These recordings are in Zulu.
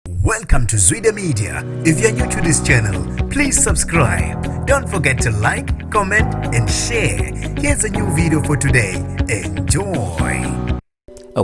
Welcome to Zwide Media. If you're new to this channel, please subscribe. Don't forget to like, comment and share. Here's a new video for today. Enjoy.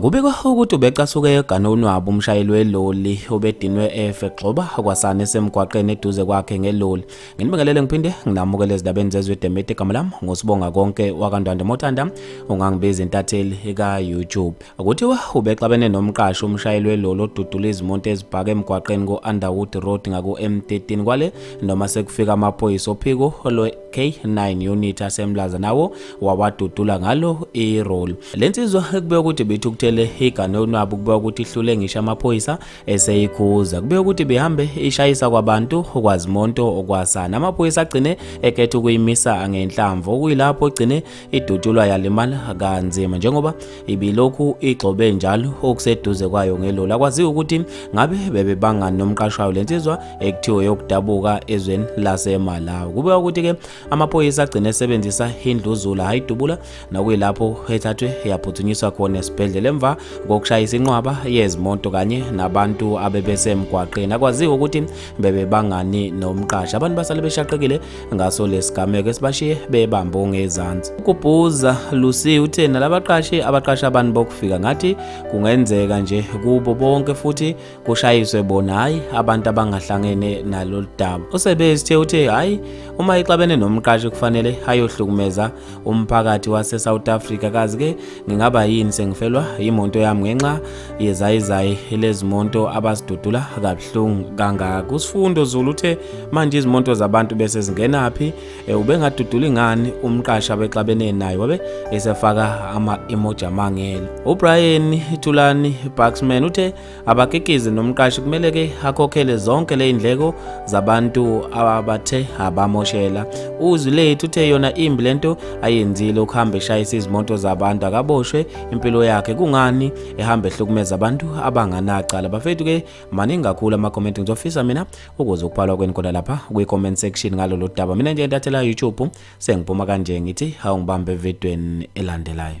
Kubikwa ukuthi ubecasuke egana unwabu umshayeli weloli obedinwe efe gxoba kwasana esemgwaqeni eduze kwakhe ngeloli. Nginibekelele ngiphinde nginamukele ezindabeni zezwe Demete igama lami ngosibonga konke wakandwande mothanda ungangibiza intatheli ka YouTube. Kuthiwa ubexabene nomqashi umshayeli weloli odudula izimonto ezibhaka emgwaqeni ku-Underwood Road ngaku-M13 kwale noma sekufika amaphoyisa ophiko lwe-K9 unit asemlaza nawo wawadudula ngalo iroli. Le nsizwa kubeka ukuthi bithukuthele igane unwabu kubeka ukuthi ihlule ngisho amaphoyisa eseyikhuza. Kubeka ukuthi bihambe ishayisa kwabantu kwazimonto okwasana. Amaphoyisa agcine ekhetha ukuyimisa ngenhlamvu okuyilapho ogcine idutshulwa yalimala kanzima njengoba ibilokhu igxobe njalo okuseduze kwayo ngeloli akwaziwa ukuthi ngabe bebebangani nomqashi wayo le nsizwa ekuthiwe yokudabuka ezweni lasemalawi kubeka ukuthi-ke amaphoyisa agcine esebenzisa indluzula hhayi idubula nokuyilapho ethathwe yaphuthunyiswa khona esibhedlela emva kokushayisa inqwaba yezimoto kanye nabantu abebesemgwaqeni akwaziwa ukuthi bebebangani nomqashi abantu basale beshaqekile ngaso lesigameko esibashiye bebambe ongezansi ukubhuza Lucy uthe nalabaqashi abaqasha abantu bokufika ngathi kungenzeka nje kubo bonke futhi kushayiswe bona hayi abantu abangahlangene nalolu daba usebezithe uthe hayi uma ixabene nomqashi kufanele ayohlukumeza umphakathi wase South Africa kazi ke ngingaba yini sengifelwa imonto yami ngenxa yezayizayi lezimonto abasidudula kabuhlungu kangaka kusifundo Zulu uthe manje izimonto zabantu bese zingenaphi e, ubengaduduli ngani umqashi abexabene naye wabe esefaka ama emoji amangele uBrian Thulani Baxman uthe abakikizi nomqashi kumele ke akhokhele zonke le indleko zabantu abathe abamoshela uzwi lethu uthe yona imbi lento ayenzile ukuhamba eshayisa izimoto zabantu akaboshwe impilo yakhe kungani ehamba ehlukumeza abantu abanganacala bafethu ke maningi kakhulu amakomenti ngizofisa mina ukuze ukuphalwa kweni kodwa lapha kwi-comment section ngalolu daba mina nje ntathela youtube Sengiphuma kanje ngithi hawu ngibambe evidweni elandelayo.